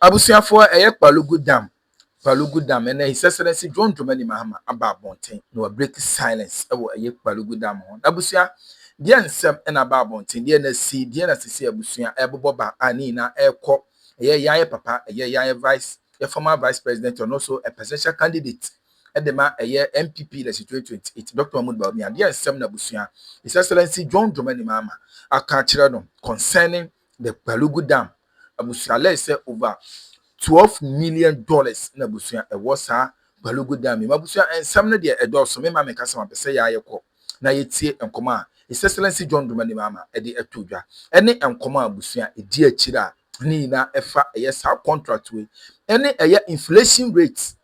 Abusuafoɔ ɛyɛ Kpalugu Dam Kpalugu Dam ɛnɛ His Excellency John Dramani Mahama aba abɔnten na wa break silence ɛwɔ ɛyɛ Kpalugu Dam ho n'abusua deɛ nsɛm ɛna aba abɔnten deɛ na si deɛ na sisi abusua ɛbobɔ ba a ne nyinaa ɛkɔ ɛyɛ yɛayɛ papa ɛyɛ yɛayɛ vice yɛ former vice president ɔno nso a presidential candidate de ma ɛyɛ NPP na si 2028 Dɔkta Mahmood Bawumia deɛ nsɛm na abusua His Excellency John Dramani Mahama aka akyerɛ no concerning the Gbalugu Dam abusua lɛɛ sɛ over twelve million dollars na abusua ɛwɔ saa Gbalugu Dam yi mu abusua nsɛm no deɛ ɛdɔɔso me mma meka sɛ mapɛ sɛ yɛ a yɛ kɔ na yɛ tie nkɔmɔ a His Excellency John Dramani Mahama ɛde ɛto dwa ɛne nkɔmɔ a abusua ɛdi akyire a ne nyinaa ɛfa ɛyɛ saa contract wei ɛne ɛyɛ inflation rate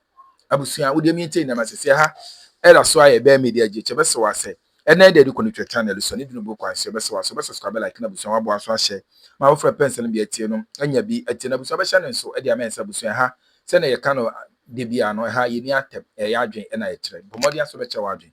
Abusua, wo deɛ mi ntei na mase sɛ ha ɛda so ayɛ bɛɛ media gye kyɛ bɛsɛ wa sɛ ɛnɛ ɛda adi kɔ ne twɛ channel so ne dunu bo kwan so ɛbɛsɛ wa so bɛ subscribe bɛ like na abusua waboa nso ahyɛ ma wofrɛ pɛ nsɛm bia tie no anya bi atie na abusua bɛhyɛ ne nso ɛde amɛn sɛ abusua ɛha sɛnea yɛka no da biaa no ɛha yɛni atɛm ɛyɛ adwen ɛna yɛkyerɛ bɔ mmɔden asɔ bɛkyɛ w'adwen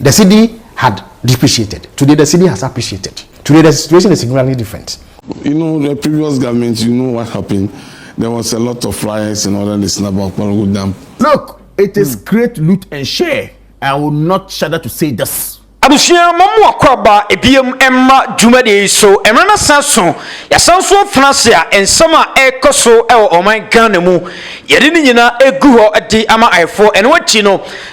The cedi had depreciated. Today the cedi has appreciated. Today the situation is significantly different. You know the previous government, you know what happened? There was a lot of riots in order to snap up Kporogu Dam. Look, it is hmm. great loot and share. I will not shudder to say this. abusua ma mu akɔaba ebiem mma dwumadi yi so mmerɛ no san so yɛsan so afena ase a nsɛm a ɛrekɔ so wɔ ɔman ghana mu yɛde ne nyinaa egu hɔ de ama ayɛfoɔ ɛno akyi no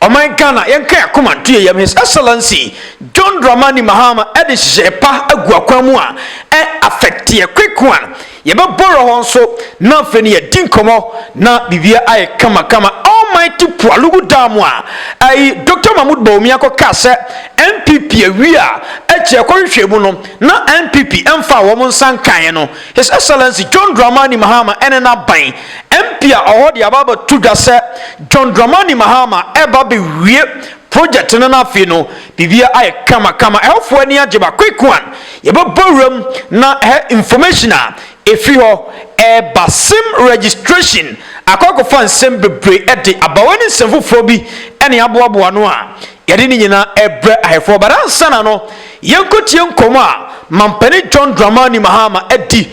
Ɔman Ghana yɛnka yɛn akoma nto yɛn yam His Excellency John Dramani Mahama de nhyehyɛɛ pa agu akwan mu a ɛ affect yɛ quick one yɛ bɛ borrow hɔ nso na afei no yɛ di nkɔmɔ na biribiara ayɛ kama kama Almighty Pualugu Dam a ɛyi Doctor Mahmood Bawumia kɔ kaa sɛ NPP awie a ɛkyɛ kɔ hwehwɛ mu no na NPP ɛnfaa wɔn nsa nkaeɛ no His Excellency John Dramani Mahama ne n'aban, MP a ɔwɔ hɔ de aba abɛto dwa sɛ John Dramani Mahama reba abɛwie project no na afei no biribiara ayɛ kamakama. Ɛhɔfoɔ ani agye ba Quick One, yɛbɛbɔ wuram na ɛhɛ information a ɛfiri hɔ reba sim registration akɔ akɔfa nsɛm bebree de aba. Wei ne nsɛm foforɔ bi ne aboaboa ano a yɛde ne nyinaa rebrɛ ahɛfoɔ. But ansa na no Yɛnkɔtie nkɔmmɔ a Mampanin John Dramani Mahama adi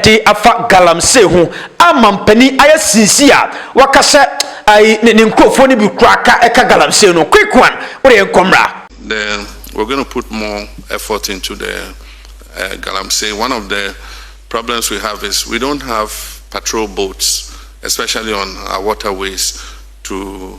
de afa galamsey ho a Mampanin ayɛ sinsi a waka sɛ ne nkurɔfoɔ no bi koraa ka ka galamsey no. Quick one, wode yɛnkɔ mmra. The we're going to put more effort into the galamsey one of the problems we have is we don't have patrol boats especially on our waterways to.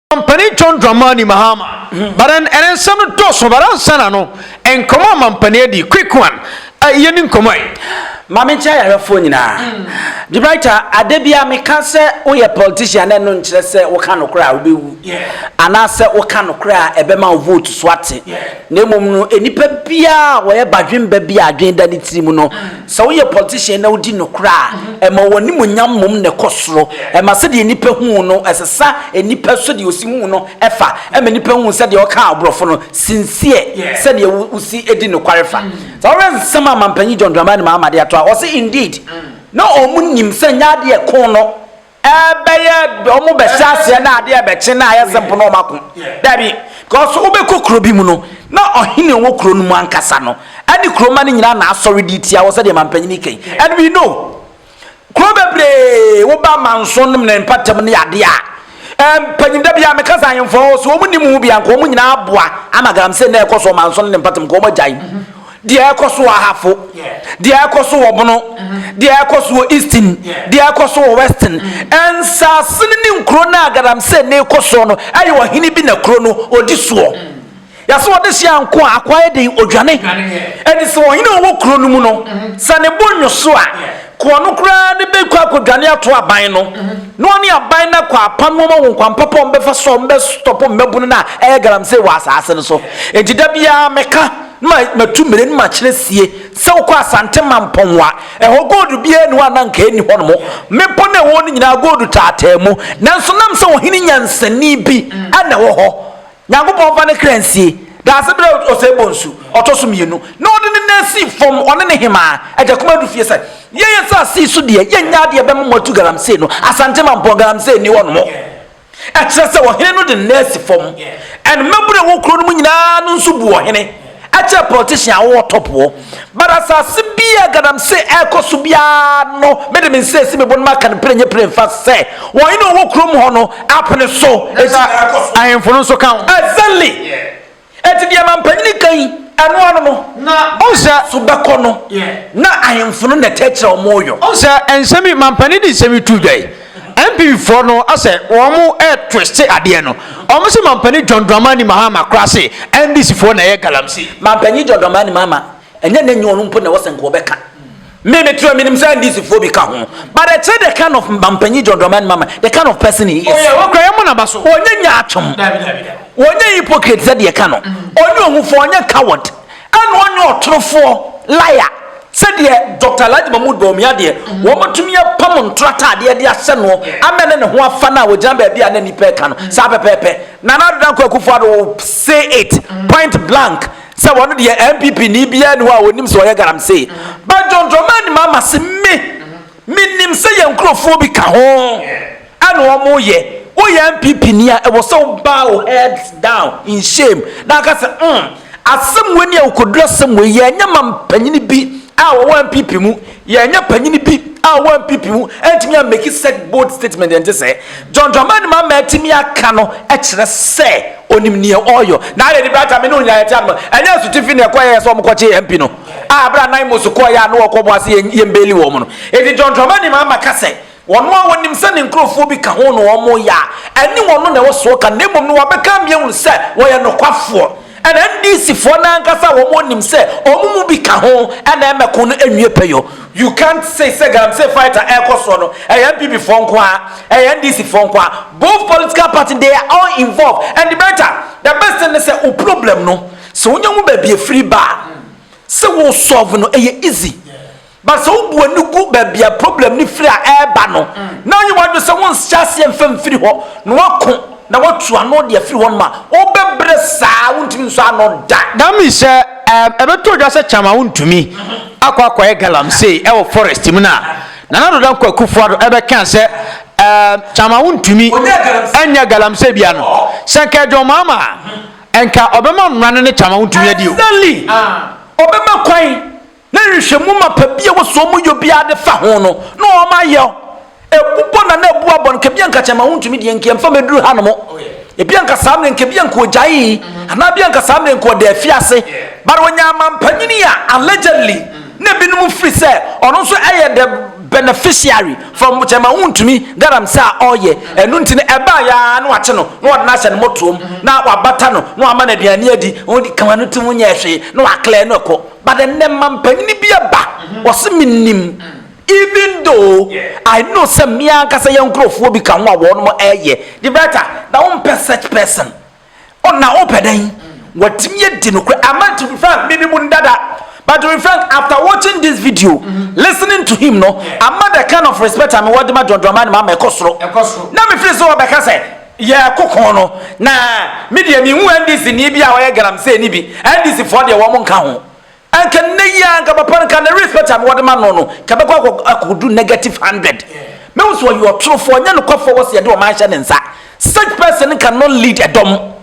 Ɔmampanin John Dramani Mahama. But then ɛnɛ nsɛm no dɔɔso but ansa na no nkɔmɔ a mampanin adi quick one a yɛ ni nkɔmɔ yi. Maame nkyɛn ayarɛfoɔ nyinaa. Gibraltar mm. ade bia meka sɛ woyɛ politician na ɛno nkyerɛ sɛ woka nokorɛ a wobɛwu anaasɛ woka nokorɛ a ɛbɛma wo vote so ate na mmom no nnipa biaa wɔyɛ badwemba bi a adwen da ne tiri mu no mm. Sɛ woyɛ politician na wodi nokorɛ a, ɛma w'animuonyam mmom na ɛkɔ soro. Ɛma sɛdeɛ nnipa hu wo no, ɛsesa nnipa sɛdeɛ wɔsi hu wo no fa. Ɛma nnipa hu sɛdeɛ woka aborɔfo no, sincere, sɛdeɛ wosi di nokware fa. Sɛ wohwɛ nsɛm a Mampanyin John Dramani Mahama de ato a, ɔse, Indeed, na wɔn nim sɛ nyɛ adeɛ ko no. Ɛbɛyɛ ɔmo bɛhyɛ aseɛ na adeɛ ɛbɛkye na ayɛ simple na ɔmo ako. Dabi, because wobɛkɔ kuro bi mu no na ɔhene a ɔwɔ kuro no mu ankasa no ɛne kuro mma no nyinaa na asɔre de tia wɔ sɛdeɛ mampanin no kɛn. And we know kuro bebree woba manso nom ne mpatam ne adeɛ a mpanin da biara meka sɛ ahemfo a wɔwɔ so wɔn nim ho bi anka wɔn nyinaa aboa ama galamsey na ɛkɔ so ɔmanso no ne mpatam nka wɔn agyae. Deɛ ɛrekɔ so wɔ Ahafo, deɛ ɛrekɔ so wɔ Bono, deɛ ɛrekɔ so wɔ Eastern, deɛ ɛrekɔ so wɔ Western, nsase no ne nkuro no a galamsey no rekɔ soɔ no, ɛyɛ ɔhene bi na kuro no ɔdi soɔ. Yɛse ɔde hyɛ anko a, akoa yɛ den, ɔdwane. Ɛnti sɛ ɔhene a ɔwɔ kuro no mu no, sɛ ne bo nnwoso a, koa no koraa no bɛkɔ akɔdwane ato aban no, na ɔne aban no akɔ apam wɔn wɔ kwan papa a wɔbɛfa so a wɔbɛstɔpo mmabunu no a ɛyɛ galamsey wɔ asaase no so. Ɛnti da biara meka. Na matu mmire na makyerɛ sie sɛ wokɔ Asante Mampɔn a, ɛhɔ gold biara nni hɔ a na anka ɛnni hɔ nom. Mmepɔ no a ɛwɔ hɔ no nyinaa gold taataa mu, nanso nam sɛ ɔhene nyansani bi na ɛwɔ hɔ. Nyankopɔn mfa ne kra nsie. Daase berɛ a ɔsɛe bonsu ɔtɔ so mmienu na ɔde ne nan sii fam, ɔne ne hemaa, Agya Kuma Adu Fie, sɛ, Yɛn asase yi so deɛ, yɛnnya adeɛ bɛma mo atu galamsey no, Asante Mampɔn, galamsey nni hɔ nom. Ɛkyerɛ sɛ ɔhene no de ne nan asi fam. And mmabunu a ɛwɔ kuro no mu nyinaa no nso bu ɔhene kyɛn politician a ɔwɔ top hɔ. But asase bi a galamsey ɛrekɔ so biara no, me de me nsa asi me bo na maka no pire nyɛ pire mfa sɛ ɔhene a ɔwɔ kurom hɔ no apene so. Enti ahemfo no nso ka ho. Exactly! Enti deɛ mampanin ka yi, ɛno ano no, na ɔnsɛ, so bɛkɔ no, na ahemfo no na ɛkyerɛkyerɛ wɔn ɔyɔ. Ɔnsɛ, nsɛm yi, mampanin de nsɛm yi too dwa yi, NPP foɔ no asɛ wɔn retwiste adeɛ no, wɔn se mampanin John Dramani Mahama koraa se NDC foɔ na ɛyɛ galamsey. Mampanin John Dramani Mahama, ɛnyɛ na ɛnyɛ wɔn mpo na ɛwɔ sɛ nka wɔbɛka. Me me tura minim sɛ NDC foɔ bi ka ho but ɛkyerɛ the kind of mampanyin John Dramani Mahama the kind of person he is. Oyɛ oh, ɔkura yɛn mu n'aba so. Onye nya atwom. Onye hypocrite sɛ deɛ ka no. Onye mm. ohufo onye coward. Ɛna onye ɔtorofoɔ liar sɛdeɛ dr alhaji mahmood bawumia deɛ mhm. wɔmatumi apam ntoro ataadeɛ de ahyɛ no ama ne ne ho afa no a wɔgyina baabi a na nnipa ɛka no mhm. saa pɛpɛɛpɛ nana adoda nkɔ akufo ado say it mhm. point blank Sɛ wɔn deɛ NPP ni biara ni hɔ a wɔnim sɛ ɔyɛ galamsey. But John Dramani Mahama se me, menim sɛ yɛn nkurɔfoɔ bi ka ho a na wɔyɛ. Woyɛ NPP ni a, ɛwɔ sɛ wo bow head down in shame na woka sɛ umm, asɛm wei ni a wokɔduru asɛm wei yi a, ɛnyɛ ma mpanyini bi a wɔwɔ NPP mu. Yɛanyɛ panyin bi a wampipi ho antumi ammeki such bold statement ɛnte sɛɛ. John Dramani Mahama atumi aka no kyerɛ sɛ onim nea ɔreyɔ. Na ayɛ aniberɛ atame ne onyinayɛ tia no. Ɛnyɛ asutifi na ɛkɔyɛ yɛ sɛ wɔn kɔkyee MP no a bere a Naimos kɔeɛ a na wɔrekɔbɔ ase yɛ yɛn beeli wɔn no. Enti John Dramani Mahama ka sɛ Wɔn a wɔnim sɛ ne nkurɔfoɔ bi ka ho na wɔreyɛ a, ɛnne wɔn na ɛwɔ so wɔka, na mmom no wɔabɛka ama yɛahunu sɛ wɔyɛ nokwafoɔ. Ɛna NDCfoɔ no ankasa a wɔn nim sɛ wɔn mu bi ka ho na ɛmmɛko no nwie pɛyɔ. You can't say sɛ Galamsey fight a ɛrekɔ soɔ no, ɛyɛ NPP foɔ nko ara, ɛyɛ NDC foɔ nko ara. Both political party they are all involved and better, the best thing ne sɛ wo problem no sɛ wonya hu baabi ɛfiri ba a, sɛ wo solve no ɛyɛ easy. But sɛ wobu ani gu baabi a problem no firi a ɛreba no, na woyɛ w'adwene sɛ wonhyɛ aseɛ mfa mfiri hɔ, na woako na woatu ano de afiri hɔnom a, wobɛbrɛ saa a wontumi nsɔ ano da. That means sɛ ɛɛm ɛbɛto odwa sɛ Kyama wontumi akɔ akɔyɛ galamsey ɛwɔ forest mu no a, Nana Addo Dankwa Akufo-Addo ɛbɛka sɛ ɛɛm Kyama wontumi nyɛ galamsey bia no, sɛ nka yɛ John Mahama a, nka ɔbɛma mmara no ne Kyama wontumi adi o. Exactly! Ɔbɛma kwan na nhwehwɛmu mapa bi a ɛwɔ so wɔyɔ biara de fa ho no na wɔayɛ ɛbubɔ na na ɛbu abɔ no nka bia nka kyɛma wontumi deɛ nka ɛmfa mɛduru ha no mo ebi anka saa mmerɛ nka bi anka ɔgyae anaa bi anka saa mmerɛ nka ɔda afi ase but ɔnya amampanyini a allegedly na ebinom firi sɛ ɔno nso ɛyɛ the beneficiary from kyɛma wontumi galamsɛ a ɔyɛ ɛno nti no ɛbaa yɛa na wakye no na ɔde no ahyɛ no motoom na wabata no na wama no aduane adi kama no tim nyɛ hwee na waklɛ no ɛkɔ But ɛnɛ manpanyin bi ɛba ɔse me nim even though I know sɛ me ankasa yɛ nkorɔfoɔ bi ka ho a wɔnom ɛyɛ the better na wo mpɛ such person oh na wo pɛ dɛn watimi adi nokorɛ ama to be frank me nimu no dada but to be frank after watching this video listening to him no ama the kind of respect a me wɔ de ma John Dramani Mahama ɛkɔ soro na me feel sɛ wɔbɛka sɛ yɛ ɛkoko no na me deɛ me hu NDC ni bi a ɔyɛ galamsey ni bi NDC foɔ deɛ wɔn nka ho nka nne yi a nka papa nka ne respect a me wɔde ma no no nka bɛkɔ akɔ do negative hundred me hu so ɔyɛ ɔtorofoɔ nyɛ nokwafoɔ wɔ sɛ yɛde ɔman hyɛ ne nsa such person can not lead ɛdɔm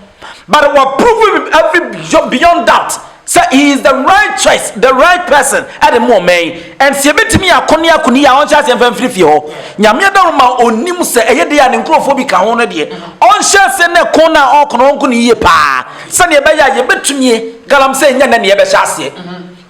but wɔ prove every beyond doubt Sɛ he is the right choice, the right person ɛde mo ɔman yi, and sɛ yɛbɛtumi ako ne ako ne yie a ɔnhyɛ aseɛ mfa mfiri fie hɔ. Nyame adaworo ma ɔnim sɛ ɛyɛ dei a ne nkurɔfoɔ bi ka ho no deɛ, ɔnhyɛ aseɛ ne ko no a ɔreko no ɔnko no yie paa sɛdeɛ ɛbɛyɛ a yɛbɛtumie galamsey nyɛ nnɛ na yɛbɛhyɛ aseɛ.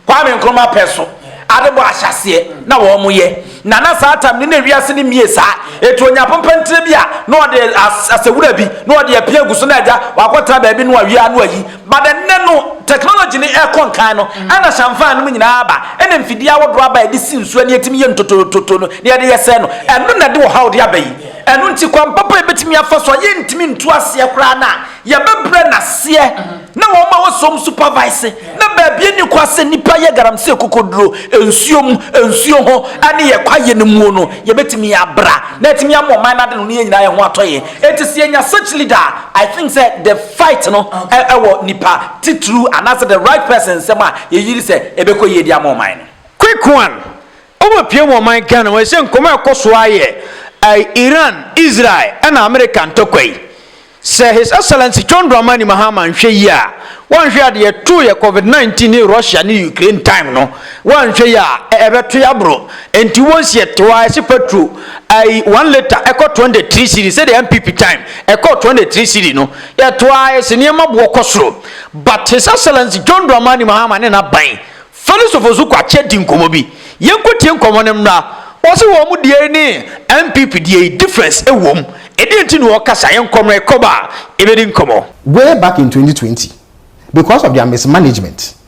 Kwame Nkrumah pɛ so ade bɔ ahyɛaseɛ na wɔn yɛ, na na saa time no na ewiase no mmie saa, eti ɔnya apompɛntire bi a na ɔde as asɛ wura bi na ɔde apia agu so na agya wakɔtena baabi no awie a na wayi. But ɛnnɛ no technology no ɛkɔ nkan no ɛna shamfan nom nyinaa aba ɛna mfidie ahodoɔ aba a yɛde si nsuo a na yɛtumi yɛ ntotototo no na yɛde yɛ sɛɛ no ɛno na ɛde ɔhaw de aba yi ɛno nti kwan papa a yɛbɛtumi afa so a yɛntumi ntu aseɛ koraa no a yɛbɛbrɛ no aseɛ na wɔn a wɔsɔ wɔn supervise na baabi ɛni kwa sɛ nnipa yɛ garamsey kokoduro nsuo mu nsuo ho ɛne yɛ kwaeɛ no muo no yɛbɛtumi abra na atumi ama ɔman no ade no ne yɛn nyinaa yɛn ho atɔ yɛn Enti sɛ yɛnya such leader a, I think sɛ the fight no wɔ nipa titiriw anaasɛ the right person nsam a yɛyiri sɛ ɛbɛkɔ yie de ama ɔman no. Quick one, Wobɛpue mu ɔman Ghana mu ɛsɛ nkɔmmɔ a ɛkɔ so ara yɛ Iran, Israel ɛna America ntɔkwa yi. Sɛ His Excellency John Dramani Mahama nhwɛ yie a, wanhwɛ adeɛ too yɛ Covid 19 ne Russia ne Ukraine time no, Wɔanhwɛ yie a, ɛbɛto yɛ aboro. Enti once yɛ to a, ɛse patro, ayi, one litre ɛkɔ 23 cedi, sɛdeɛ NPP time ɛkɔɔ 23 cedi no, yɛto a, ɛse nneɛma boɔ kɔ soro. But His Excellency John Dramani Mahama ne n'aban, Felix Ofosu-Kwakye adi nkɔmmɔ bi. Yɛnkɔtie nkɔmmɔ no mmra. Ɔse wɔn deɛ yi ne NPP deɛ yi, difference ɛwom. Ɛdeɛn nti na ɔkasa? Yɛnkɔ mmra, ɛkɔba a, yɛbɛdi nkɔmmɔ. Way back in 2020, because of their mismanagement,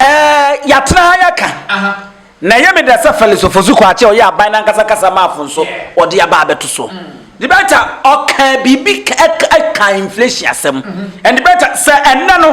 Eh, yɛatena ha yɛaka. Na ɛyɛ me dɛ sɛ Fɛlix Ofosu-Kwakye a ɔyɛ aban no ankasa kasamafo nso ɔde aba abɛto so. The better, ɔkaa biribi ka ɛk ɛkaa inflation asɛm. And the better, sɛ ɛnnɛ no,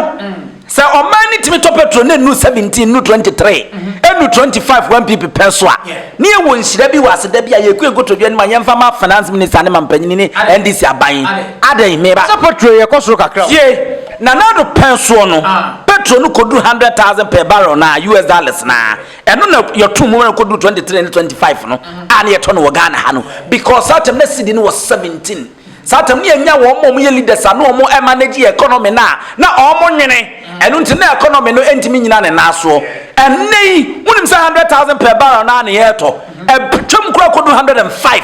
sɛ ɔman no tumi tɔ petrol na ɛnnu 17, ɛnnu 23, ɛnnu 25 wɔ NPP pɛ so a, na yɛwɔ nhyira bi wɔ ase da bi a yɛkue nkotodwe anim a yɛmfa ma Finance Minister ne Mampanyini ne NDC aban. Adɛn? Meba. Sɛ petrol yɛ kɔ soro kakra o. Tie. Na n'ado pɛn soɔ no, petro no kɔduru hundred thousand per barrel na US dollars na ɛno na yɛto mu ma no kɔduru twenty three ne twenty five no a na yɛtɔ no wɔ Ghana ha no because saa tam na cedi no wɔ seventeen saa tam ne yɛnya wɔn ma wɔn yɛ leaders a na wɔn ɛmanage yɛ economy no a na wɔn nwene ɛno nti na economy no ntumi nyina ne nan soɔ ɛnɛ yi wonim sɛ hundred thousand per barrel no a na yɛtɔ ɛtwam kora kɔduru hundred and five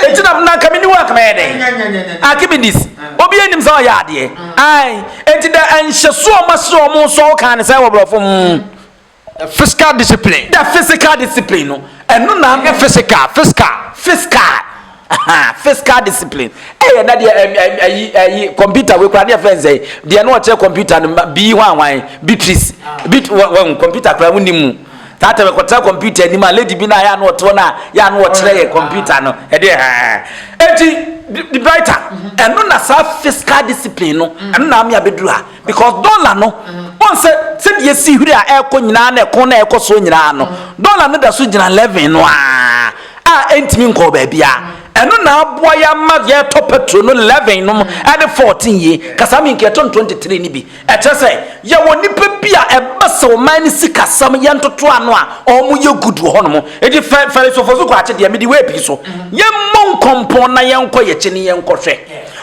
Enti na, na anka mini wo anka mɛyɛ dɛn? Archimedes, obiara nnim sɛ ɔyɛ adeɛ. Ae, enti dɛ nhyɛso a wɔahyɛ wɔn nso a wɔkaa no sɛn wɔ borɔfo mu? The physical discipline. The physical discipline no, ɛno na. Ɛnyɛ physical, fiscal. Fiscal, aha, fiscal discipline. Ɛyɛ na deɛ ɛm, ɛm, ayi, ayi, computer wei koraa ne yɛfrɛ no sɛn? Deɛ na wɔkyerɛ computer no, ma, bii hwanhwan, Beatrice, Beat, wɔ, wɔn, computer koraa wonni mu. That time ɛkɔtena computer anim a lady bi na yɛ ano ɔte hɔ na yɛ ano ɔkyerɛ yɛ computer no ɛde ɛhɛn eti the brighter ɛno na saa fiscal discipline no ɛno na ame abɛduru ha because dollar no wɔn sɛ sɛdeɛ esi hwiri a ɛrekɔ nyinaa na ɛko na ɛrekɔ soɔ nyinaa no dollar no da so gyina eleven no aa a ɛntumi nkɔɔ baabi a ɛno na aboa yɛ ama yɛtɔ petrol no eleven no ɛde fourteen yie kasa mi nka ɛtɔn twenty three ni bi Ɛkyerɛ sɛ yɛwɔ nnipa bi a ɛba sɛ ɔman no sikasɛm yɛ ntotoano a ɔmo yɛ good wɔ hɔnom. Enti fɛ Farisofoɔ so kɔ akye deɛ mede wei pii so. Yɛmmɔ nkɔmpɔn na yɛnkɔ yɛkyi ne yɛnkɔ hwɛ.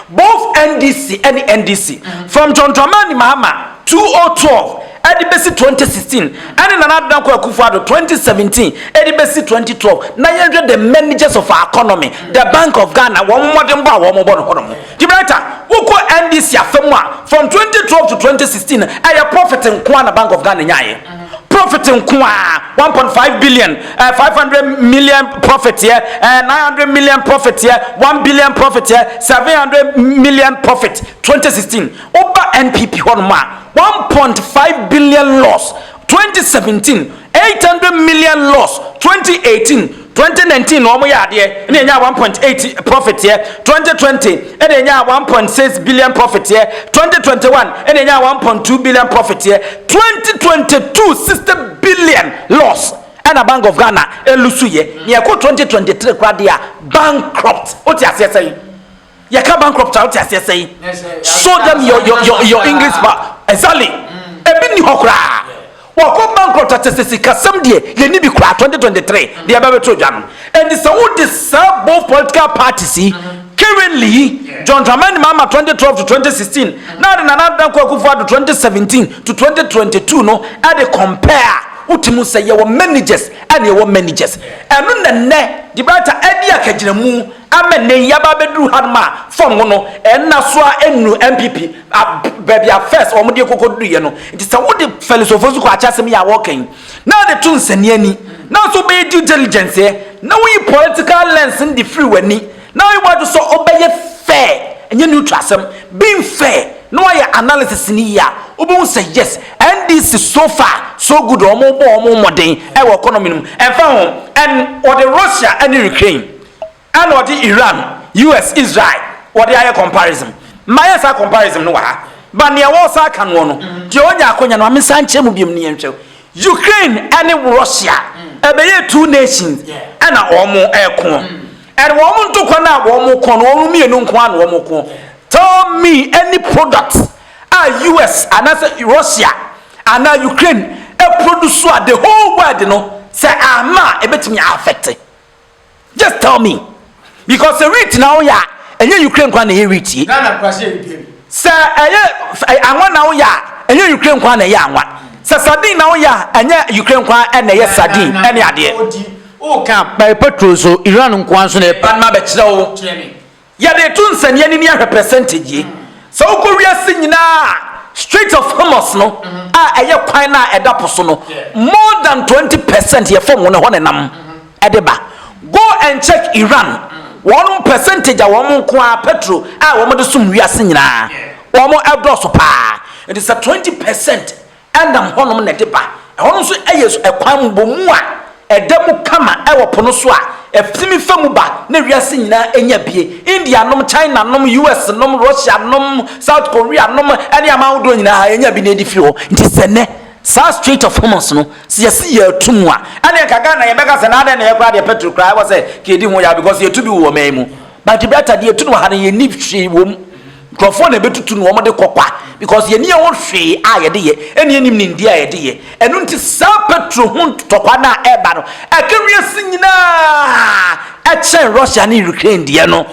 Both NDC ɛne NDC from John Dramani Mahama 2012 ɛde bɛsi 2016 ɛne Nana Addo Dankwa Akufo Addo 2017 ɛde bɛsi 2012 na yɛnhwɛ the managers of our economy, the bank of Ghana wɔn mmɔdenbɔ a wɔn bɔ no hɔnom. Gibraltar, wokɔ NDC afa mu a, from twenty twelve to twenty sixteen no, ɛyɛ profit nko ara na Bank of Ghana nyaeɛ. Profit nko ara, one point five billion, ɛɛ five hundred million profit yɛ, ɛɛ nine hundred million profit yɛ, one billion profit yɛ, seven hundred million profit twenty sixteen. Woba NPP hɔnom a, one point five billion loss twenty seventeen, eight hundred million loss twenty eighteen. Twenty nineteen na wɔn yɛ adeɛ ɛna enyaa one point eight profit yɛ, twenty twenty ɛna enyaa one point six billion profit yɛ, twenty twenty one ɛna enyaa one point two billion profit yɛ, twenty twenty two sixty billion loss ɛna Bank of Ghana ɛlusu yɛ, nea ɛkɔ twenty twenty three koraa deɛ a bankrupt, wote aseɛ sɛn? Yɛ ka bankrupt a wote aseɛ sɛn? Show them your your your your English ba exactly. Ebi ni hɔ koraa. Wɔkɔ bankrupt a sese sikasɛm deɛ yɛ ni bi koraa 2023 deɛ ɛbɛ bɛ to dwa no. Ɛnti sɛ wo de saa both political parties yi currently yi John Dramani Mahama 2012 to 2016 na de Nana Dankwa Akufo Addo 2017 to 2022 no ɛde compare a wote mu sɛ yɛ wɔ managers ɛna yɛ wɔ managers. Ɛno na nɛ debater ɛde akagyinamu. Ama nnɛ yi aba abɛduru hanom a fam ho no nna so a ɛnnuru NPP baabi a first wɔn de kɔkɔduruiɛ no. Nti sɛ wo de Felix Ofosu kɔ akyɛ asɛm yi a wɔreka yi na de to nsania ni na nso wobɛyɛ due diligence ɛ na woyi political lens no de firi w'ani na woyɛ w'adwene sɛ wobɛyɛ fair ɛnyɛ neutral asɛm being fair na woayɛ analysis no yie a wobɛhu sɛ yes NDC so far so good wɔn bɔ wɔn mmɔden ɛwɔ economy no mu ɛmfa ho ɛn wɔde Russia ɛne Ukraine Ɛna ɔde Iran, US, Israel wɔde ayɛ comparison. Mayɛ saa comparison no wɔ ha. But nea wɔresan aka noɔ no, deɛ ɔnya akonya no ma mensan nkyerɛ mu biom no yɛnhwɛ. Ukraine ɛne Russia ɛbɛyɛ two nations ɛna wɔn ɛko. And wɔn ntokwa no a wɔn ko no wɔn mmienu nko ara na wɔn ko. Tell me any product a US anaasɛ Russia anaa Ukraine ɛproduce a the whole world no sɛ amma a ɛbɛtumi a affect. Just tell me because sɛ wheat na woyɛ a ɛnyɛ Ukraine kwan na ɛyɛ wheat yi. Ghana nkwasi yɛ dua bi. Sɛ ɛyɛ eh, anwa na woyɛ a ɛnyɛ Ukraine kwan na ɛyɛ anwa. Sɛ sardine na woyɛ a ɛnyɛ Ukraine kwan na ɛyɛ sardine ɛne adeɛ. Odi o kan. Bɛyɛ petrol so Iran nkoa nso na ɛpɛ. Ba no ma bɛkyerɛ wo. Kyerɛ me. Yɛde to nsɛnneanini ahwɛ percentage yi. Sɛ wokɔ wiase nyinaa a, Strait of Hormuz no a ɛyɛ kwan no a ɛda po so no, more than twenty percent yɛ fam no hɔ na ɛnam de ba. Go and check Iran, wɔn percentage a wɔn nko ara petro a wɔde som wiase nyinaa, wɔn dɔɔso paa. Nti sɛ twenty percent. Ɛnam hɔnom na ɛde ba. Ɛhɔ no nso yɛ ɛkwan mmobɔmu a ɛda mu kama wɔ po no so a ɛtumi fa mu ba na wiase nyinaa nya bie. India nom, China nom, US nom, Russia nom, South Korea nom, ne aman ahodoɔ nyinaa yɛnya bi na yɛde firi hɔ. Nti sɛ nnɛ saa Strait of Hormuz no sɛ yɛse yɛatu mu a, ɛneɛ nka Ghana yɛbɛka sɛ na adɛn na yɛ koraa deɛ petrol koraa ɛwɔ sɛ nka yɛdi ho yaw because yɛtu bi wɔ ɔman yi mu but deɛ ɛbɛyɛ ata deɛ yɛtu no wɔ ha no yɛnni hwee wɔ mu. Nkurɔfoɔ na ɛbɛtutu na wɔde kɔ kwa because yɛn ani ɛwɔ hwee a yɛde yɛ ɛne yɛnim nimdeɛ a yɛde yɛ ɛno nti saa petro ho ntɔkwa no a ɛba no ɛka wiase nyinaa ɛkyɛn Russia ne Ukraine deɛ no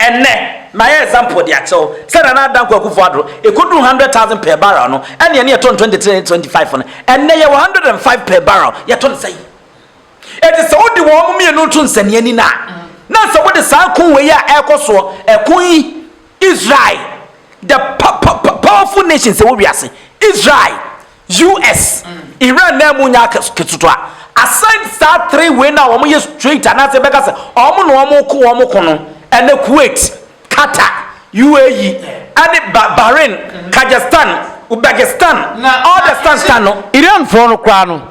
ɛnɛ mayɛ example de akyɛw sɛ Nana Adanko Akufo Addo ɛkɔduru 100,000 per barrel no ɛne ɛne yɛtɔn 23 ne 25 no ɛnɛ yɛwɔ 105 per barrel yɛtɔn sɛi Enti sɛ wode wɔn mmienu to nsɛnnennen a, na sɛ wode saa ko wei a ɛrekɔ soɔ, ɛko yi, Israel, the powerful nations ɛwɔ wiase, Israel, US, Iran na ɛmu nya ketewa. Aside saa three wei na wɔn yɛ straight anaasɛ bɛka sɛ wɔn na wɔn ko wɔn ko no, ɛnɛ Kuwait. Qatar, UAE, ne Bahrain, Kajastan, Uzbekistan, Ordestan Stan no. Iran foɔ no koraa no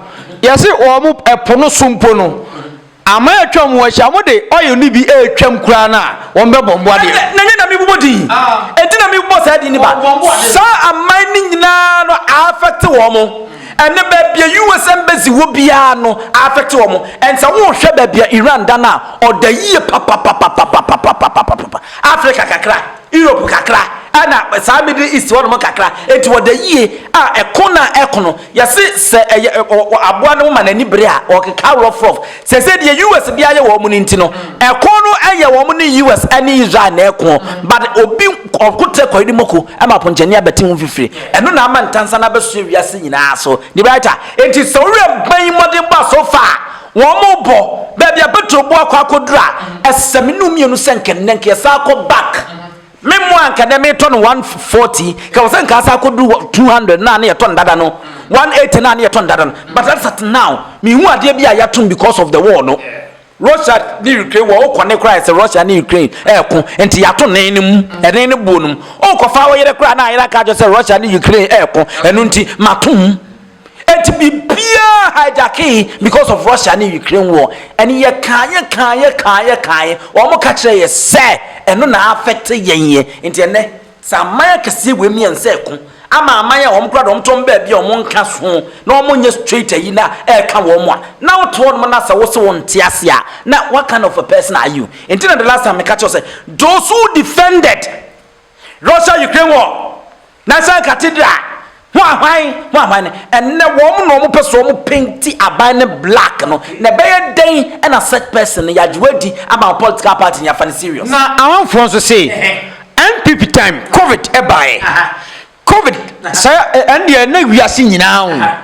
yɛse wɔn ɛpo no so mpo no aman a atwa wɔn ho ahyia wɔn de oil no bi ɛretwam koraa no a wɔn bɛbɔ mmoa deɛ. Na nyɛ na mebobɔ din enti na mebobɔ saa din no ba saa aman no nyinaa no affect wɔn. Ɛnɛ baabi a US embassy wɔ biara no aafɛkte wɔn. Ɛnsɛ wohwɛ baabi a Iran da no a ɔda yie papapapapapapapapapapapa. Africa kakra, Europe kakra ɛna saa Middle East hɔ nom kakra. Enti wɔda yie a ɛko no a ɛko no yɛse sɛ ɛyɛ aboa no ma n'ani bere a ɔkeka rɔfrɔf. Seesei deɛ US de ayɛ wɔn no nti no, ɛko no yɛ wɔn ne US ne Israel na ɛko, but obi ɔko trɛ kɔyere mako ma aponkyɛni abɛte ho mfifire. Ɛno na ama ntansa no abɛsoɛ wiase nyinaa so. De right a? Enti sɛ wo werɛ bɛn mmɔdenbɔ a so far wɔrebɔ, baabi a Petro bo akɔ akɔduru a, ɛsɛ sɛ me ne wo mmienu sɛ nka nnɛ nka yɛsan kɔ back. Me mmoa nka dɛ metɔ no one forty nka wɔsɛ nka asa akɔdu two hundred na ne yɛtɔ no dada no one eighty na ne yɛtɔ no dada no but that's at now mehu adeɛ bi a yɛatom because of the war no Russia ne Ukraine wɔ wokɔ ne koraa sɛ Russia ne Ukraine ɛɛko nti yɛato ne no mu ɛne ne boɔ no mu wokɔfa wo yere koraa na ayere aka akyɛ sɛ Russia ne Ukraine ɛɛko ɛno nti mato mu Enti biribiara hijackee because of Russia ne Ukraine war. And yɛkaeɛ kaeɛ kaeɛ kaeɛ, wɔn ka kyerɛɛ yɛ sɛ ɛno na affect yɛn yɛ. Nti ɛnnɛ sɛ aman akɛseɛ wei mmiɛn sɛ ɛko ama aman a wɔn koraa de wɔn to wɔn baabi a wɔn nka so na wɔn nyɛ straight ayi na ɛka wɔn a, na wote hɔ nom na sɛ wo se wo nte aseɛ a, na what kind of a person are you? Nti na the last time meka kyerɛ wo sɛ those who defended Russia Ukraine war, Nansan Cathedral ho ahwan ho ahwan no, ɛnnɛ wɔn na wɔn pɛ so wɔn penti aban no black no, na ɛbɛyɛ dɛn na such person no yɛagye wadi ama wo political party no yɛafa no serious. Na Amanfoɔ nso se NPP time covid baeɛ, covid saa ɛndeɛ na wiase nyinaa o.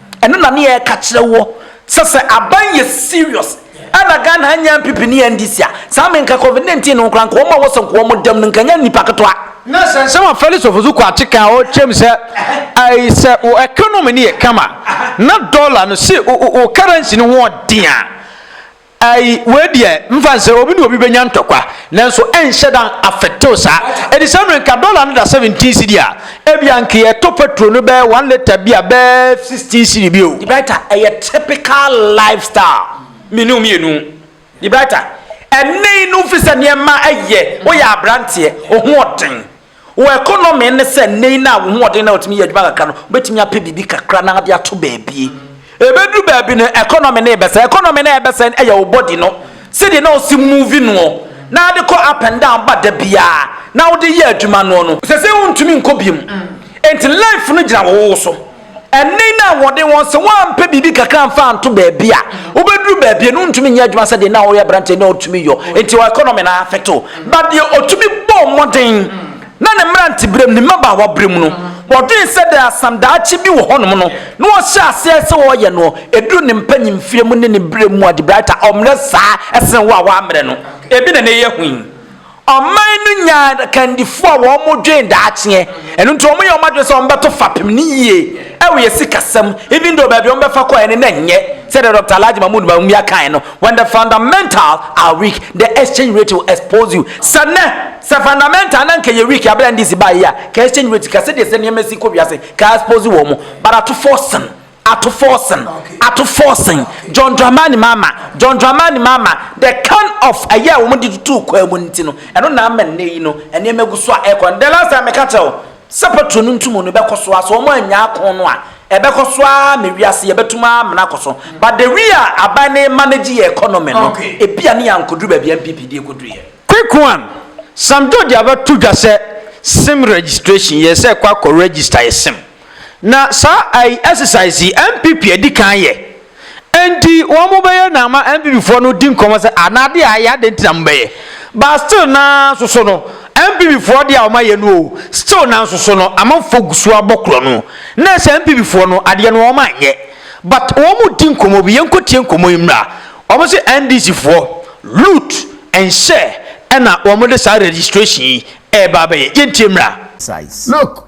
Ɛno na ne yɛka kyerɛ wo sɛ sɛ aban yɛ serious ɛna Ghana anya NPP ne NDC a saa me nka covid 19 no ho koraa nka wɔn a wɔsɛ nka wɔn dɛm no nka nyɛ nnipa ketewa. Na sɛ nsɛm a Felix Ofosu Kwakye ka a ɔkyerɛm sɛ ɛɛ sɛ wo economy no yɛ kama na dollar no si wo currency no ho ɔden a, Ai, wei deɛ, mfa nsɛ, obi ne obi bɛnya ntɔkwa, nanso ɛnhyɛ da afɛktew saa. Ɛdisɛm no, nka dɔla no da seventeen cedi a, ebia anka yɛtɔ petro no bɛyɛ one lita bi a bɛyɛ sixteen cedi bi o. Liberta, ɛyɛ typical lifestyle, me ne wo mmienu. Liberta, ɛnne no fi sɛ nneɛma ɛyɛ, woyɛ abranteɛ, ohoɔden. Wɔ ɛkɔnɔme ne sɛ nnɛ yi no a wo hoɔden na wɔtumi yɛ adwuma kakra no, wobɛtumi apɛ biribi kakra na ade ato baabie. Ɛbɛduru baabi no ɛkɔnɔme no rebɛsɛe. Ɛkɔnɔme no a ɛrebɛsɛe no yɛ wo body no, sɛdeɛ na wosi move noɔ, na wode kɔ up and down ba da biara, na wode yɛ adwuma noɔ no. Sɛsei wontumi nkɔ biom. Enti life no gyina wo wo so. Ɛnne no a wɔde wɔn sɛ wɔampɛ biribi kakra amfa anto baabi a wobɛduru baabi no ntumi nyɛ adwuma sɛdeɛ na ɔyɛ aberanteɛ na ɔtumi yɔ nti economy no afeto ba deɛ ɔtumi bɔɔ mmɔden na ne mmeranteberɛm ne mmabaawa berɛm no wɔdwen sɛ dɛ asam daakye bi wɔ hɔnom no na ɔhyɛ aseɛ sɛ ɔyɛ no ɛduru ne mpanyimfie mu ne ne berɛ mu a debrighter ɔmmerɛ saa ɛsene wo a woammerɛ no ebi na na ɛyɛ hui Ɔman no nyaa akandifoɔ a wɔdwen daakyeɛ, ɛno nti wɔyɛ wɔn adwene sɛ wɔbɛto fapem no yie wɔ yɛn sikasɛm, even though baabi a wɔbɛfa kɔeɛ no na ɛnyɛ sɛdeɛ Doctor Alhaji Mahmood Bawumia kaeɛ no, When the fundamental are weak, the exchange rate will expose you. Sɛ nnɛ, sɛ fundamental no anka ɛyɛ weak a berɛ a NDC baeɛ yi a, ka exchange rate, ka sɛdeɛ sɛ nneɛma si kɔ wiase, ka expose wɔn, but atofo sen. Ato Forson, Ato Forson, John Dramani Mahama, John Dramani Mahama, the can of ɛyɛ a wɔn de tutuu kwan mu no nti no, ɛno na ama nnɛ yi no, nneɛma gu so a ɛkɔ no. The last time meka kyerɛ wo sɛ petrol no ntumu no bɛkɔ so ara, sɛ wɔn annya ako no a, ɛbɛkɔ so ara ma wiase yɛbɛtum ara amena akɔ so. But the way a aban no remanage yɛ economy no, ebia ne yɛankoduru baabi a NPP de ekoduruiɛ. Quick one, Sam George abɛto dwa sɛ sim registration, yɛsɛ kɔ akɔ register yɛ sim. Na saa ai exercise yi NPP adi kan yɛ. Enti wɔn bɛyɛ na ama NPP foɔ no di nkɔmmɔ sɛ ah na adeɛ a ayɛ adɛn nti na mo bɛyɛ. But still nanso so no NPP foɔ deɛ a wɔn ayɛ no oo still nanso so no amanfoɔ gu so abɔ korɔ no. Na ɛsɛ NPP foɔ no adeɛ no wɔn anyɛ. But wɔn di nkɔmmɔ bi yɛnkɔ tie nkɔmmɔ yi mmra. Wɔn se NDC foɔ loot nhyɛ ɛna wɔn de saa registration yi ɛɛba abɛyɛ. Yɛntie mmra. Look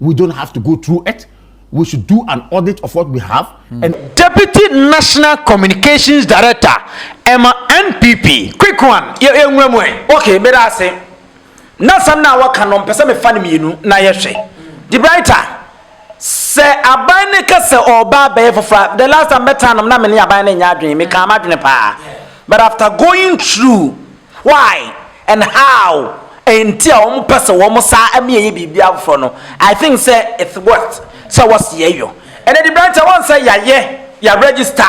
We don't have to go through it. We should do an audit of what we have. Mm. And Deputy National Communications Director, Emma NPP. Quick one. Okay, but I say. na asɛm no a wɔka no mpɛ sɛ mefa no mmienu na yɛhwɛ de brighter sɛ aban ne ka sɛ ɔba abɛyɛ foforɔ the last time bɛtaa nom na mene aban no nyɛ adwene mekaa m'adwene paa but after going through Why and how nti a wɔn pɛ sɛ wɔn saa ɛmi yɛ yɛ biribi afoforɔ no I think sɛ it's worth sɛ wɔ sɛ yɛ yɔ ɛnɛ de bɛn kyɛ wɔn sɛ yɛ ayɛ yɛ register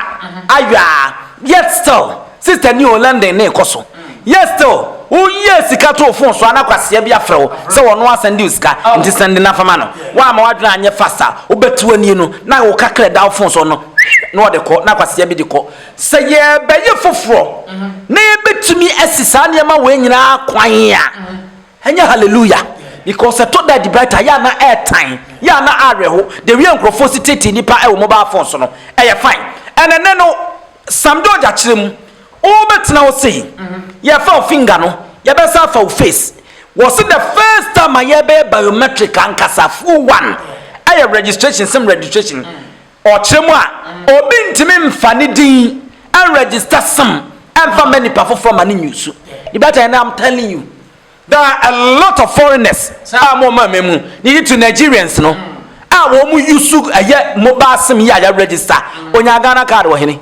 ayɔ a yet still sister ni o London ne kɔ so yet still wo yɛ sika to phone so ana kwasia bi afrɛ wo sɛ wɔn no asɛn de sika nti sɛn de nafa ma no wɔn ama wadwene anyɛ fast a wo bɛ tiwa ni no na wo kakra da wo phone so no na ɔde kɔ na kwasia bi de kɔ. Sɛ yɛrebɛyɛ foforɔ na yɛbɛtumi asi saa nneɛma wei nyinaa kwan a, ɛnyɛ hallelujah. Because ɛtɔ da a Debrighter yɛ a na ɛretan, yɛ a na awerɛho, the way a nkurɔfoɔ si teetee nnipa wɔ mobile phone so no, ɛyɛ fine. And ɛnnɛ no, Sam George akyerɛ mu, wobɛtena hɔ sei, yɛrefa wo finger no, yɛbɛsan afa wo face. Wɔse the first time a yɛrebɛyɛ biometric ankasa, full one, ɛyɛ registration, sim registration. Ɔkyerɛ mu a, obi ntumi mfa ne din nregister sim mfa mma nipa foforɔ ma no nyi so. The better and I'm telling you, there are a lot of foreigners a wɔn wɔn ama mu, near to Nigerians no, a wɔn use ɛyɛ mobile sim yi a yɛ register, onya Ghana card wɔ hene?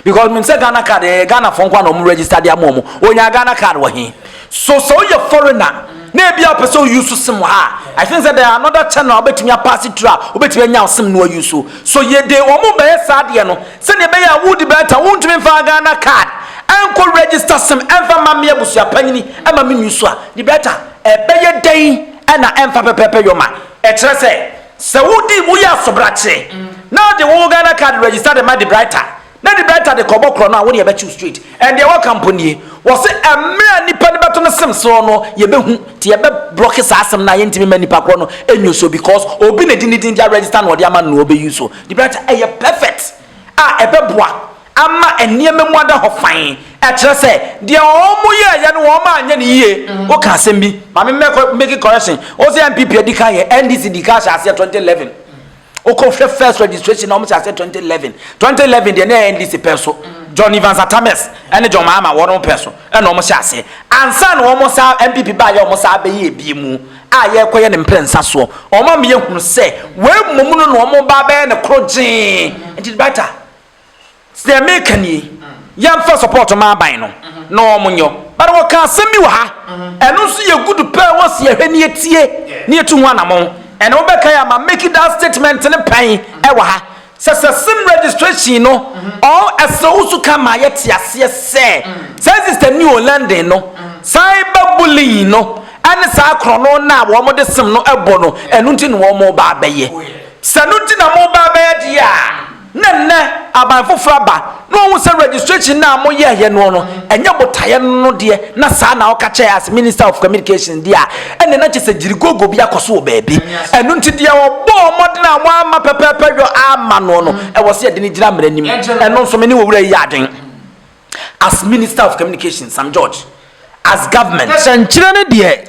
Because menim sɛ Ghana card ɛyɛ Ghana foɔ nkoa na ɔmo register de ama ɔmo. Ɔnyaa Ghana card wɔ he? So sɛ woyɛ foreigner na ebi a wopɛ sɛ wo use sim wɔ ha a, I think sɛ there are another channel a wobɛtumi a pass through a wobɛtumi anya wo sim no a use. So yɛ de ɔmo bɛyɛ saa adeɛ no sɛdeɛ ɛbɛyɛ a wodi bɛɛta wontumi mfa Ghana card nkɔ register sim mfa mma me abusua panyini ma me use a, di bɛɛta. Ɛbɛyɛ dɛn na ɛmfa pɛpɛɛpɛ yɔ ma ɛkyerɛ sɛ. Sɛ wo di wo yɛ asobrakye na ɔde wo Ghana card register de ma de Brighter na de Brighter de kɔ bɔ korɔ no a wo deɛ bɛkyew straight and deɛ wɔka mpo nie wɔse ɛmmerɛ a nipa no bɛto no sem soɔ no yɛbɛhu nti yɛbɛ blocke saa asem no a yɛntimi ma nipa korɔ no ɛnyoso because obi na ɛdi ne din de aregister no ɔde ama no na ɔbɛ use de Brighter ɛyɛ perfect a ɛbɛboa ama nneɛma mu ada hɔ fann, ɛkyerɛ sɛ, deɛ wɔyɛeɛ no wɔanyɛ no yie, woka asɛm bi, ma me mmɛkɔ make correction, wo sɛ NPP adi kan yɛ, NDC di kan hyɛ aseɛ 2011, wokɔhwɛ first registration na wɔhyɛ aseɛ 2011, 2011 deɛ na ɛyɛ NDC pɛ so, John Evans Atta Mills ne John Mahama wɔn pɛ so na wɔhyɛ aseɛ, ansa na wɔn saa NPP baayɛ wɔn saa bɛyɛ ebie mu. a yɛrekɔyɛ ne mprɛnsa soɔ. Ɔma me yɛ hunu sɛ wei mmom no na wɔn reba abɛyɛ no koro gyee. Nti it better deɛ meka nie, yɛmfa support ma aban no na wɔn nyɔ. But wɔka asɛm bi wɔ ha, ɛno nso yɛ good paa a wɔsi yɛhwɛ na yɛtie na yɛtu ho anamɔn. Ɛna wobɛkae a ma make that statement no pɛn wɔ ha. Sɛ sɛ sim registration no ɔn ɛsɛ wo so ka ma yɛ te aseɛ sɛ saa sister ni o London no cyber bullying no ɛne saa korɔno no a wɔn de sim no bɔ no ɛno nti na wɔn ba abɛyɛ sɛ ɛno nti na mo ba abɛyɛ deɛ a na nnɛ aban foforɔ aba. Na ɔhu sɛ registration no a mo yɛ yɛ noɔ no ɛnyɛ botaeɛ no no deɛ na saa na ɔka kyɛɛ as minister of communications deɛ a ɛnneɛ na kyɛ sɛ gyirigoogo bi akɔ so wɔ baabi ɛno nti deɛ ɔbɔɔ mmɔden a mo amma pɛpɛɛpɛ yɔ amma noɔ no ɛwɔ sɛ yɛde no gyina mmara nim ɛno nso me ne owura yi yɛ aden as minister of communications Sam George as government. Sɛnkyerɛ ne deɛ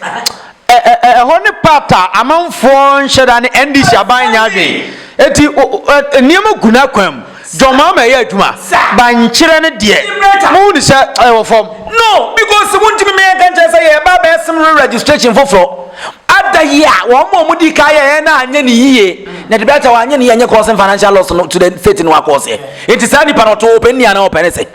ɛhɔ ne part a amanfoɔ nhyɛ da ne NDC aban nyɛ adwen eti nneɛma gu n'akwan mu John Mahama ɛyɛ adwuma bankyerɛ ne deɛ mo hu ne sɛ ɛwɔ fam. No because wo ntumi meyɛ nka nkyerɛ sɛ yɛreba abɛyɛ sem re registration foforɔ ada yi a wɔn mo wɔn di ka yɛyɛ na anyɛ ne yie na de bɛkyɛ wɔn anyɛ ne yie anyɛ kɔɔse financial loss no to the state no akɔɔseɛ eti saa nipa no ɔtɔ ɔpɛ nnia na ɔpɛ ne sɛ.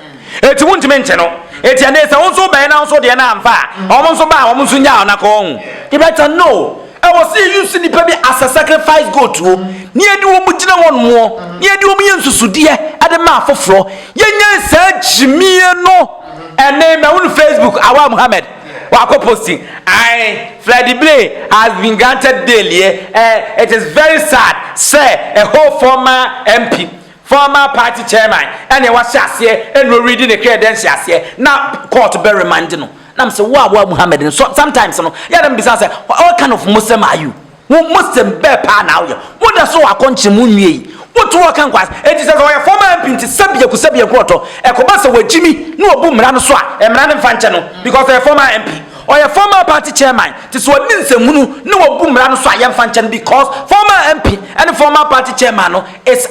Enti wontumi nte no. Enti ɛnde sɛ wo nso wobɛn na wo nso deɛ no amfa a, wɔn nso ba a, wɔn nso nyaa wɔn akɔ wɔn ho. You better know, ɛwɔ sɛ yɛ use nnipa bi as a sacrifice goat o, na yɛde wɔn gyina hɔ nom o, na yɛde wɔn yɛ nsusudeɛ de ma afoforɔ. Yɛnyae saa gyimie no. Ɛnne mahu no Facebook, Awaa Muhammad, wakɔ posti, ae, Freddie Gray has been granted bail, yɛ, eh, it is very sad sɛ a whole former MP, Former party chairman ɛneɛ wahyɛ aseɛ ɛna ɔredi ne credensi aseɛ na court bɛ remande no na mesɛ wo a wo a Muhammed no so sometimes no yɛ a na mebisa wo sɛ what kind of Muslim are you wo Muslim bɛɛ paa na wo yɛ wo da so wɔ akɔnkyere mu nwie yi wo to hɔ ka nkwaa ɛnti sɛ sɛ ɔyɛ former MP nti sɛ biaku sɛ biaku ɔtɔ ɛkɔba sɛ wagyimi na wabu mmara no so a mmara no mfa nkyɛ no because ɔyɛ former MP ɔyɛ former party chairman nti sɛ ɔde nsɛmhunu na wabu mmara no so a yɛmfa nkyɛ no because former MP ɛne former party chairman no It's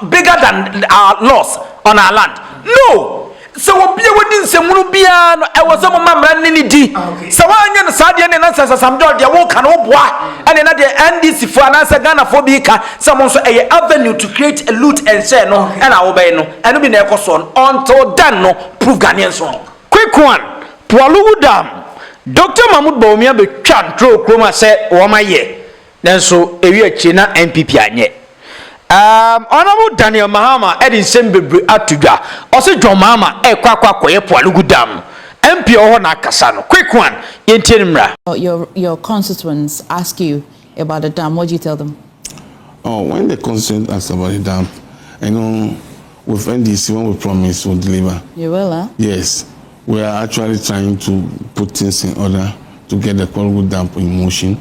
bigger than our laws on our land. No! Sɛ obi a wadi nsɛmhunu biara no, ɛwɔ sɛ moma mmara no ne ne di. Sɛ woanyɛ no saa deɛ ne na sɛ Sam George deɛ woka no woboa ɛne na deɛ NDC foɔ anaasɛ Ghana foɔ bi ka sɛ mo nso ɛyɛ avenue to create a loot and share no ɛna wobɛyɛ no ɛno bi na ɛkɔ soɔ no until then no prove Ghanaians wrong. Quick one, Pualugu Dam, Doctor Mahmoud Bawumia bɛtwa ntroo kurom a sɛ wɔayɛ. Nanso eyi akyiri na NPP anyɛ. Um, Honourable Daniel Mahama de nsɛm bebree ato dwa. Ɔse John Mahama rekɔ akɔ akɔyɛ po anogu dam no. MP a ɔwɔ hɔ na akasa no. Quick one, yɛntie no mmra. Your your constituents ask you about the dam, what do you tell them? Oh, when the constituents ask about the dam, you know, with NDC, when we promise, we'll deliver. You will, huh? Yes. We are actually trying to put things in order to get the Kwalugu dam in motion.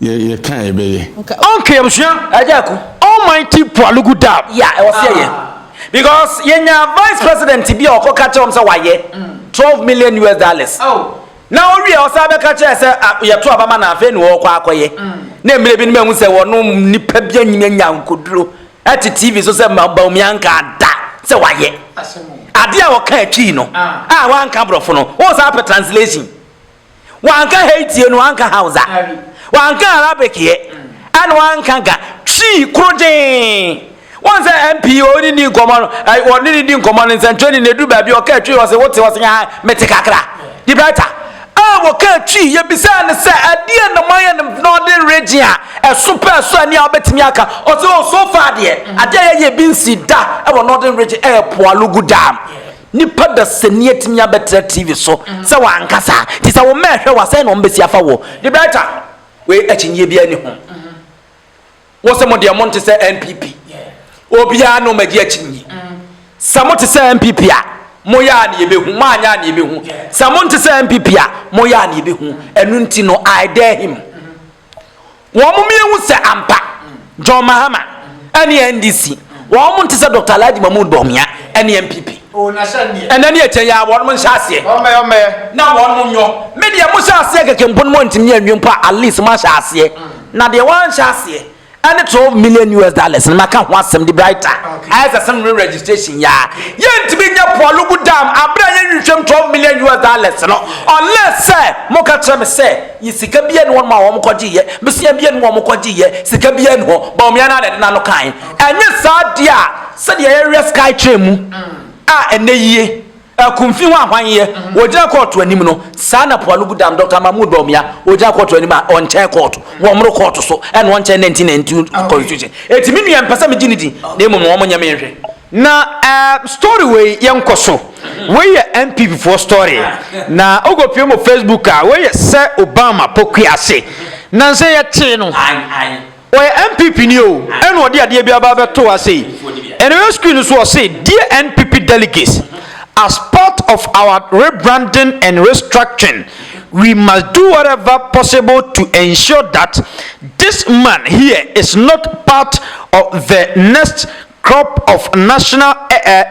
Yɛ yɛ kan yɛ bɛyɛ. Nka. Ɔnka abusua. Ɛgya ɛko. Almighty Pualugu Dab. Yɛ a ɛwɔ sɛ yɛyɛ because yɛ nya vice president bi a ɔkɔ ka kyerɛ wɔn sɛ wayɛ twelve million US dollars na owie a ɔsan bɛka kyerɛ sɛ a yɛto aba ma no afei na ɔkɔ akɔyɛ na mmerɛ bi no mahu sɛ wɔno nipa bi anyim anya nkoduro ɛte TV so sɛ ma Bawumia nka da sɛ wayɛ adeɛ a ɔka atwii no a wanka borɔfo no wɔn san pɛ translation. Ɔannka Haiti ɛ na ɔannka Hausa. Ɔannka Arabic ɛ na ɔannka Ga. Twi koro gyee. Woahu sɛ MP a ɔne ni nkɔmmɔ no, ɔne ne di nkɔmmɔ no nsɛntwerɛni no ɛduru baabi ɔkaa Twi ɔse wote ɔse yaa mete kakra. De Brighter a ɔkaa Twi yɛbisaa no sɛ ɛdeɛ na moayɛ no Northern Region a ɛso pɛ ɛso ɛne a wobɛtumi aka ɔse oh so far deɛ adeɛ a yɛyɛ bi nsi da ɛwɔ Northern Region ɛyɛ Poalogu Dam. Nipa dasani atumi abɛtra TV so sɛ wankasa. Nti sɛ wo mma ɛhwɛ wo a, sɛn na wɔbɛsi afa wo? De Brighter, wei akyinnyeɛ biara nni ho. Mo se mo deɛ mo nte sɛ NPP. Obiara ne wɔn agye akyinnyie. Sɛ mote sɛ NPP a, moyɛ a na yɛbɛhu. Moanyɛ a na yɛbɛhu. Sɛ monte sɛ NPP a, moyɛ a na yɛbɛhu. Ɛno nti no, I dare him. Wɔn mmienu sɛ ampa John Mahama ɛne NDC wɔn nte sɛ Dr. Alhaji Mahmood Bawumia ɛne NPP. Ɛnɛ ne ɛkyɛ yɛ wɔn nhyɛ aseɛ na wɔn nyɔ. Me deɛ mo hyɛ aseɛ keke mpo no mo ntumi anwie mpo a at least mo ahyɛ aseɛ. Na deɛ wɔn anhyɛ aseɛ ɛne twelve million us dollars na maka ho asɛm de brighter ayɛ sɛ sɛm no registration yɛ a yɛntumi nyɛ poalogu dam abere a yɛnhwehwɛm twelve million us dollars no unless sɛ moka kyerɛ me sɛ yɛ sika biara ne hɔ ma wɔn kɔgye yɛ mesia biara ne wɔn kɔgye yɛ sika biara ne hɔ bɔn mmea na adade na no kan ɛnyɛ saa deɛ a sɛdeɛ yɛyɛ sky train mu a ɛnɛ yie. Akumfi ho ahwanyɛ, ogyina kɔɔto anim no, saa na Poalugu Dam Dɔkta Mahmood Bawumia, ogyina kɔɔto anim a ɔnkyɛn kɔɔto, wɔmmoro kɔɔto so, ɛna ɔnkyɛn 1992 Constitution. Enti me nua, mmpɛ sɛ megye no di, na mmom na wɔnyɛ me nhwɛ. Na ɛɛm story wei yɛ nkɔ so, wei yɛ NPP foɔ story, na wokɔ pie mo Facebook a, wei yɛ sɛ Obama pokua ase, nansa yi ɛtee no. Ɔyɛ NPP ni oo ɛna ɔde adeɛ bi aba abɛto ha sei. Ɛna ɔyɛ screen no so ɔse dear NPP delegates as part of our rebranding and restructuring we must do whatever possible to ensure that this man here is not part of the next crop of national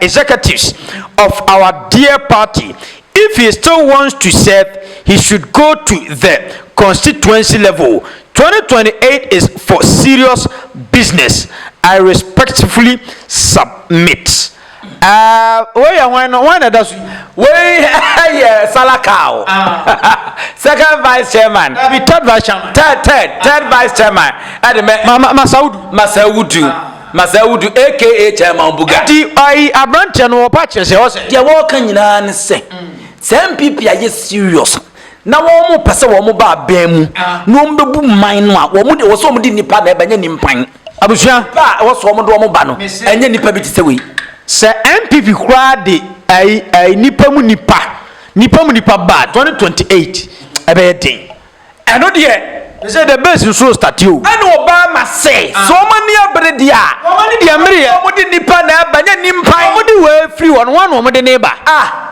executives of our dear party if he still wants to serve he should go to the constituency level 2028 is for serious business i respectfully submit ah wei yɛ hwan no hwan na ɛda so yi wei yɛ salakao second vice chairman third vice chairman third third third vice chairman ɛde mɛ masaudu masaudu Masaudu aka Chairman Buga. Enti ɔyi abranteɛ no ɔpa kyerɛ sɛ ɔsɛ. Deɛ wɔka nyinaa ne sɛ sɛ NPP ayɛ serious na wɔn pɛ sɛ wɔn ba aban mu na wɔn bɛbu man no a wɔn deɛ wɔsɛ wɔn de nnipa na ɛba nyɛ nimpan. Abusua. Nipa a ɛwɔ sɛ wɔn de wɔn ba no ɛnyɛ nipa bi te sɛ wei. Sɛ NPP koraa de ayi ayi nipa mu nipa nipa mu nipa ba 2028 ɛbɛyɛ den. Ɛno deɛ. They say the base nsuo starte o. Ɛna ɔbaa ma se. Sɛ wɔn ani abere deɛ a. Wɔn ani deɛ mmere yɛ. Wɔn de nipa na ɛba nyɛ nimpan. Wɔn de wei firi hɔ no wɔn na wɔn de ne ba. Ah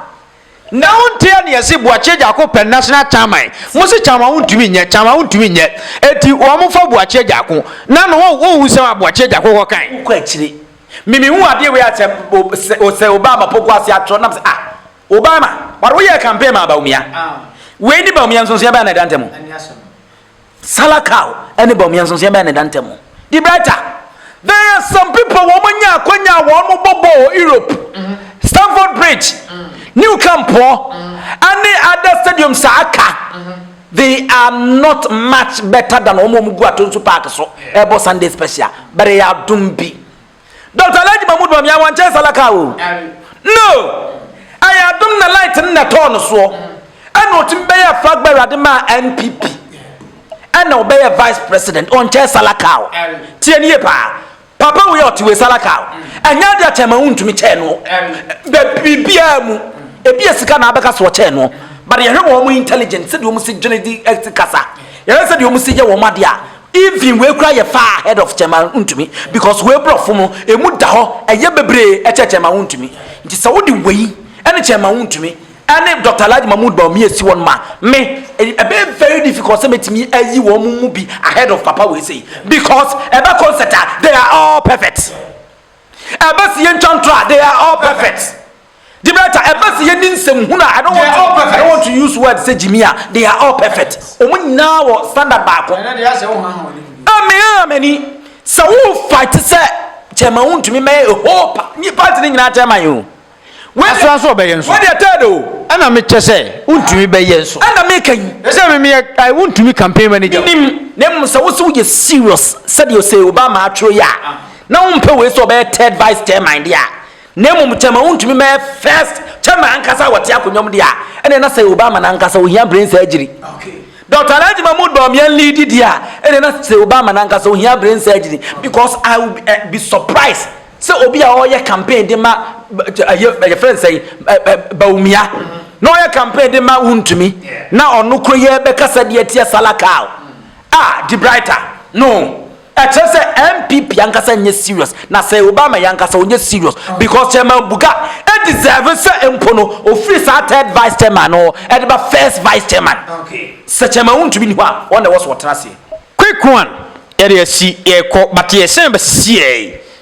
na wo ntea ne yɛse boakyeɛ gyako pɛ national chairman mo se chairman wo ntumi nyɛ chairman wo ntumi nyɛ eti wɔn fa boakyeɛ gyako na no wɔn wɔn nsɛm a boakyeɛ gyako kɔ kan. wokɔ akyire mimi hu adeɛ wei asɛ sɛ obama poko ase atwerɛ nam sɛ ah. Obama but wo yɛɛ campaign maa Bawumia wei ne Bawumia nsonsoɛ bɛn na ɛda ntamu Salakau ɛne Bawumia nsonsoɛ bɛn na ɛda ntamu Di brighter there are some people wɔn mo nya akwanya a wɔn mo bɔ bɔɔl Europe mm-hmm. Stamford Bridge mm-hmm. New Camp hɔ mm-hmm. ɛne other stadium saa aka they are not much better than wɔn wɔn gu ato nso park so ɛbɔ Sunday special but they are dum bi. Doctor Alhaji Mahmood Bawumia a wɔnkyɛɛ saa laka o. No! Ɛyɛ adom na light no na ɛtɔɔ no soɔ. Ɛna ɔtumi bɛyɛɛ flag bearer de maa NPP. Ɛna ɔbɛyɛɛ vice president. Ɔnkyɛɛ saa laka o. Tie no yie paa. Papa wei a ɔte wei saa laka o. Ɛnyɛ adeɛ a kyɛn ma wontumi kyɛɛ no. Bɛ biribiara mu. Ebi yɛ sika na abɛka so ɔkyɛɛ no. But yɛhwɛ wɔn intelligent sɛdeɛ wɔn si dwene di ɛsi kasa. Yɛhwɛ sɛdeɛ wɔn si yɛ wɔn adeɛ a Even wei koraa yɛ far ahead of kyɛma wontumi because wei brɔfo no ɛmu da hɔ ɛyɛ bebree ɛkyɛ kyɛma wontumi nti sɛ wode wei ɛne kyɛma wontumi ɛne Doctor Alhaji Mahmood Bawumia ɛsi hɔ no ma me ɛbɛyɛ very difficult sɛ mɛtumi ayi wɔn mu bi ahead of papa wei sei because ɛbɛ concert a they are all perfect ɛbɛ si yɛntwa ntorɔ a they are all perfect. Gibraltar ɛba sɛ yɛnni nsɛm hunu a I don't want to, I don't want to use word sɛ gyimi a they are all perfect wɔn nyinaa wɔ standard baako a me aa m'ani sɛ wo fight sɛ chairman wo ntumi mɛyɛ a whole pa ni party ne nyinaa chairman yɛ o Asra nso ɔbɛyɛ nso. Wei deɛ third o. Ɛna me kyɛ sɛ wontumi bɛyɛ nso. Ɛna me ka yi. Sɛ me meyɛ ai wontumi campaign manager. Minim na mmom sɛ wosɛ woyɛ serious sɛdeɛ ɔsɛ Obama atwerɛ yi a na wompɛ wei sɛ ɔbɛyɛ third vice chairman deɛ a Na mmom kyɛma wontumi mmɛyɛ first kyɛma ankasa a wɔte akonnwa mu de a, ɛneɛ na Sir Obama no ankasa ohia brain surgery. Doctor Alhaji Mahmood Bawumia leadi deɛ a, ɛneɛ na Sir Obama no ankasa ohia brain surgery because I will be, uh, be surprised sɛ obi a ɔreyɛ campaign de ma ɛyɛ ɛyɛ fɛn sɛ Bawumia na ɔyɛ campaign de ma wontumi na ɔno koro yɛ bɛkasa de atia Salakal a, ah, De Brighter no. Ɛkyerɛ sɛ NPP ankasa nyɛ serious na sɛ Obama yɛ ankasa ɔnyɛ serious because Chairman Buga deserve sɛ mpo no ɔfiri saa third vice chairman no hɔ ɛde ba first vice chairman. Sɛ Chairman Wu ntumi nni hɔ a wɔn na ɛwɔ so wɔtena aseɛ. Quick one yɛde asi yɛkɔ but yɛsan bɛsisi yɛn.